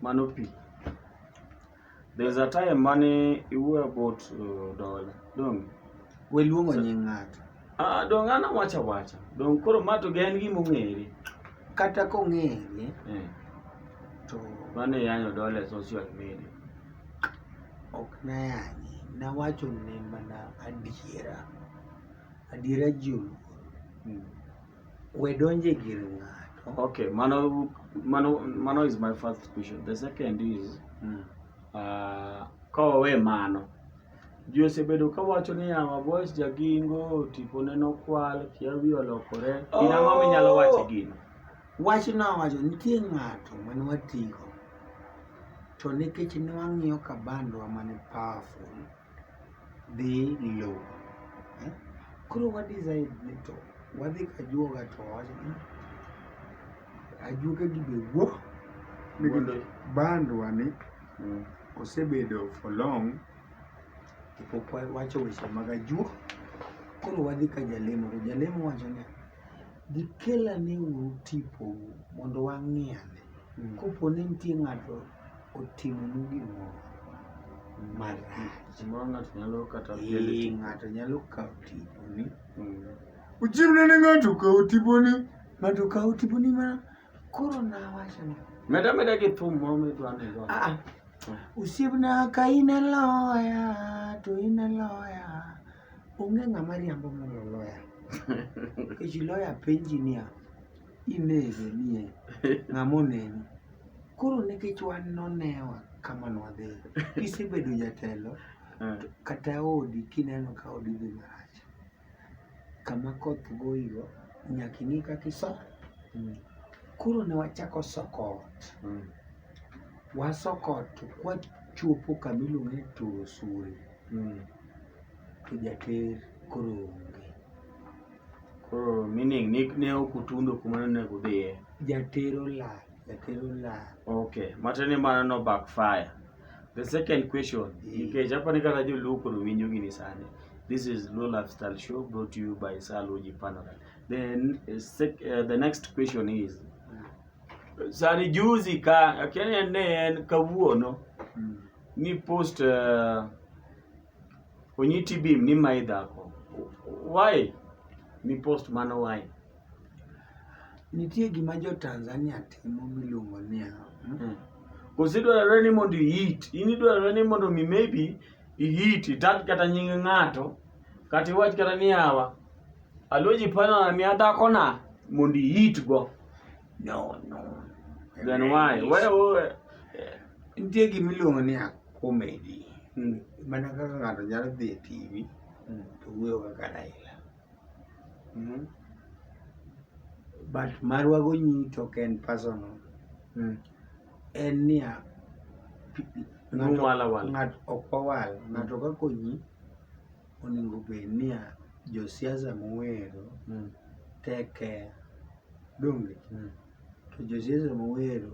Mano pi. There is a time mane iwuoyo about uh, dola. Dong. We luongo nying ng'ato. Ah, dong an awacha wacha. Dong koro ma to gen gima ong'ere. Kata kong'ere. Eh. To mane yanyo dola e social media. Ok nayanyi. Nawacho ne mana adiera. Adiera ji oluor. Hmm. We donje gir ng'ato. Okay, mano mano mano is my first question. The second is mm. uh, ka wawe mano ji osebedo ka wacho ni yawa boys jagingo tipone nokwal kia wi olokore oh. in ang'o minyalo wacho gino wach nowacho nitie ng'ato mane watigo to nikech ne wang'iyo kabandwa mane powerful dhi low. Eh? Koro wa decide ni to wadhi kajuoga to wawacho ni ajuoga gi be wuo nikech bandwa ni mm. osebedo for long kapok wacho weche mag ajuok. Koro wadhi ka jalemo to jalemo wacho ni gikelane uru tipou mondo wang'iane. Mm. Kopo ni nitie ng'ato otimonu gimoro marach. Gimoro ng'ato nyalo kata Ee, ng'ato nyalo kawo tiponi. Uchiwne ne ng'ato kawo tiponi. Ng'ato kawo tiponi ma koro nawacho ni. Meda meda gi thum moro midwa ni go. Ah, ah. Osiepna ka in e loya to in e loya. Onge ng'ama riambo mondo loya. Nikech loya penji niya, inege nie ng'ama oneni koro nikech wan nonewa kama nwadhi kisebedo jatelo eh. kata odi kineno ka odi dhi marach kama koth goyigo nyaka ing'i kaka iso mm. koro ne wachako soko ot mm. wasoko ot to kwachopo kama iluongo ni turo suri mm. to jater koro onge Koro meaning ni ne ok utundo kuma ne onego udhiye. Jatero lal, jatero lal. Okay, matiende ni mano no backfire. The second question, nikech aparo ni kata joluo koro winjo gini sani. This is Luo Lifestyle Show brought to you by Sir Luigi Panorama. Then uh, sec, uh, the next question is sani juzi ka akia ni en ne en kawuono ni post uh, onyiti bim ni mae dhako why mi post mano why nitie gima jo Tanzania timo miluongo ni hmm? hmm. kosi dwarore ni mondo ihit in idwarore ni mondo mi maybe ihit itat kata nying ng'ato kata iwach kata ni awa aluoji pana mi adhakona mondo ihitgo No, no. Then why? Why? why? Nitie gima iluongo ni comedy. Mm. Mana kaka ng'ato nyalo dhi e TV mm. to wuoyo kaka Raila. Mm -hmm. But marwa gonyi to en personal. Mm. En niya ng'ato ok wawal, ng'ato kakonyi Onego bed niya, josiasa mowero mm. tek ker donge mm. to josiasa mowero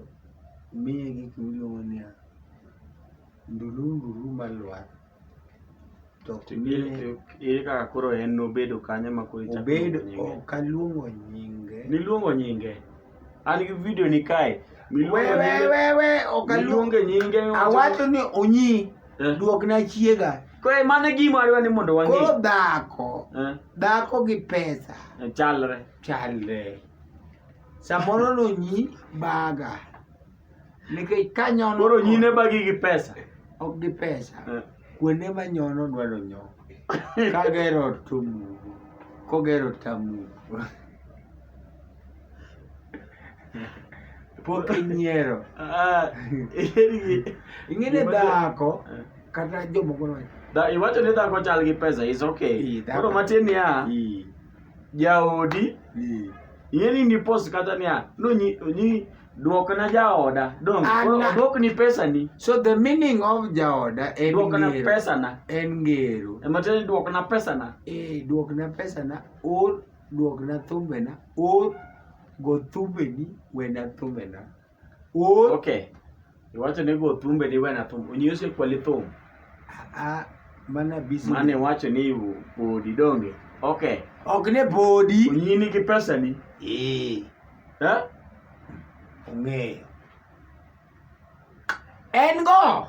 miye gik miluongo niya ndulundulu malwar ere kaka koro en nobedo kanyo ma koro obedo okaluongo nyinge niluongo nyinge An gi video ni kae. Wewewewe okaluonge nyinge. Awacho ni onyi. Eh. Duok na chiega. Kwe mane gima ariwa ni mondo wang'e. Koro dhako. Eh. Dhako gi pesa. Eh, chalre. Chalre. Samoro nonyi baga. nikech ka nyono koro nyine bagi gi pesa ok gi pesa eh. kuonde ma nyono dwaro nyo kagero ot to mugo kogero ot tamugo pok inyiero ah, ing'eni dhako eh. kata jomoko iwacho ni dhako chal gi pesa is okay koro matin niya jaodi ing'eni ni post kata niya nonyi Duokna jaoda. Dong, Ana- oduokni pesani. So the meaning of jaoda en Duokna ngero. pesana. En ngero. Ema tiende ni duokna pesana. Eh, duokna pesana or duokna thumbena or go thumbeni wena thumbena or Okay. Iwacho ni go thumbe di wena thum. Onyose kwali thum. Ah, mana busy. Mane wacho ni bodi donge. Okay. Ok ne bodi. Onyini gi pesa ni. Eh. Ha? Ong'eyo. En go.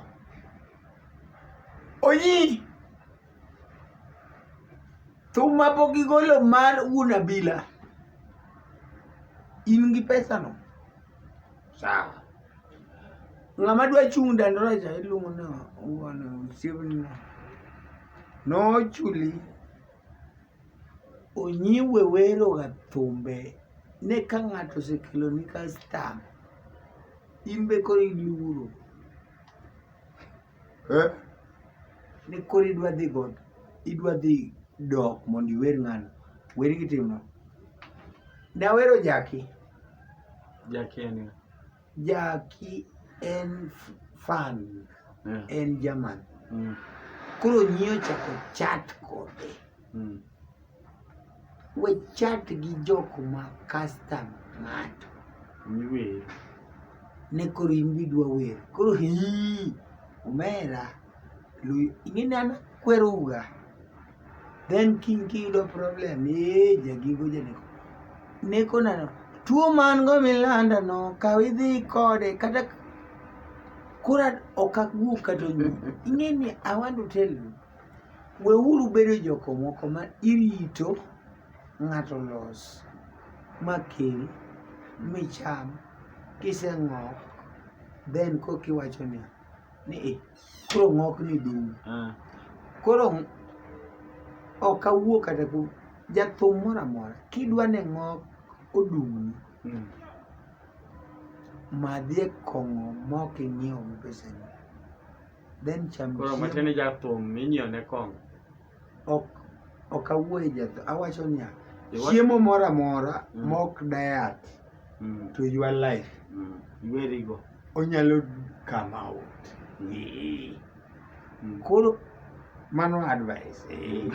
Onyi. Thum ma pok igolo mar wuon abila. In gi pesa no. Sawa. Ng'ama dwa chung' dandora cha iluongo ni wuon osiepni. Nochuli onyiwe weroga thumbe ne ka ng'ato osekeloni kastam in be koro iluoro. Eh? Ni koro idwa dhi god, idwa dhi dok mondo iwer ng'ano. Wer gitimo. Dawero Jaki. Jaki en ng'a? Jaki en f- fan, Yeah. en German. Mm. Koro nyie ochako chat kode. Mm. We chat gi jok ma custom ng'ato. Miwer. Ne koro in bidwa wer. Koro hii. Omera. Lui. Ing'eni an kwero uga. Then king kiyudo problem. Eee jagigo janeko. Neko nano. Tuo man go milanda no. Kaw idhi kode. Kata kura okak gu kato nyu. Ing'eni I want to tell you. Weuru bedo joko moko ma irito ng'ato los ma kel micham kiseng'ok then koka iwacho ni ni eh, koro ng'okni dum. Ah. Koro ok awuo kata ku jathum moro amora kidwa ni ng'ok odumni mm. madhie kong'o mok inyiewo gi pesani. then cham Koro chiemo. matiende jathum minyiew ne kong. Ok ok awuoye jathum. Awacho niya, Iwa- chiemo moro amora Mm. mok diet Mm. to your life Mm. Iweri go. onyalo come out. Ee. Mm. Koro mano advice. Ee.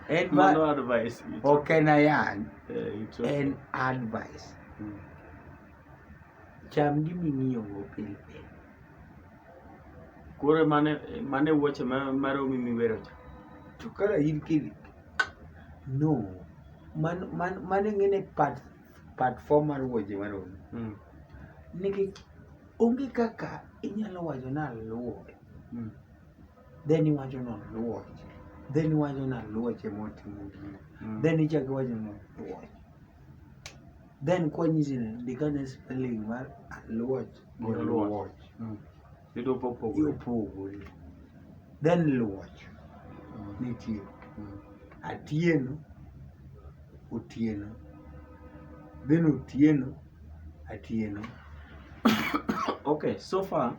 En ba- Mano advice. ok en ayany, Eh, it's okay. en advice. Mm. Cham gima ing'iyogo pile pile. Koro mano e mano e wuoche ma maromi miwero cha. To kara in kidi. No. Man man mano ing'eni part part four mar wuoche maromi. Mm. Nikech onge kaka inyalo wacho ni aluwo. Mm. Then iwacho ni oluwo. Then iwacho ni aluoche motimo gino. Mm. Then ichako iwacho ni oluoche. Then kwanyisi ni ndikane spelling mar aluoch gi Gi oluoch. luoch. Mm. Yudo popogore. Opogore. Then luoch nitie. Mm. Atieno, otieno. Then otieno, atieno. Okay, so far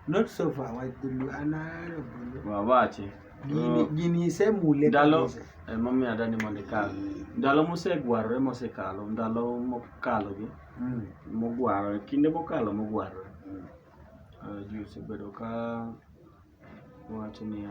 Not so far, why do you another bulu? Wawache. Gini, gini ise mule ndalo emomiyo adani mondo ikal ndalo mosegwarore mosekalo ndalo mokalogi mm. mogwarore kinde mokalo mogwarore mm. uh, ji osebedo ka wacho niya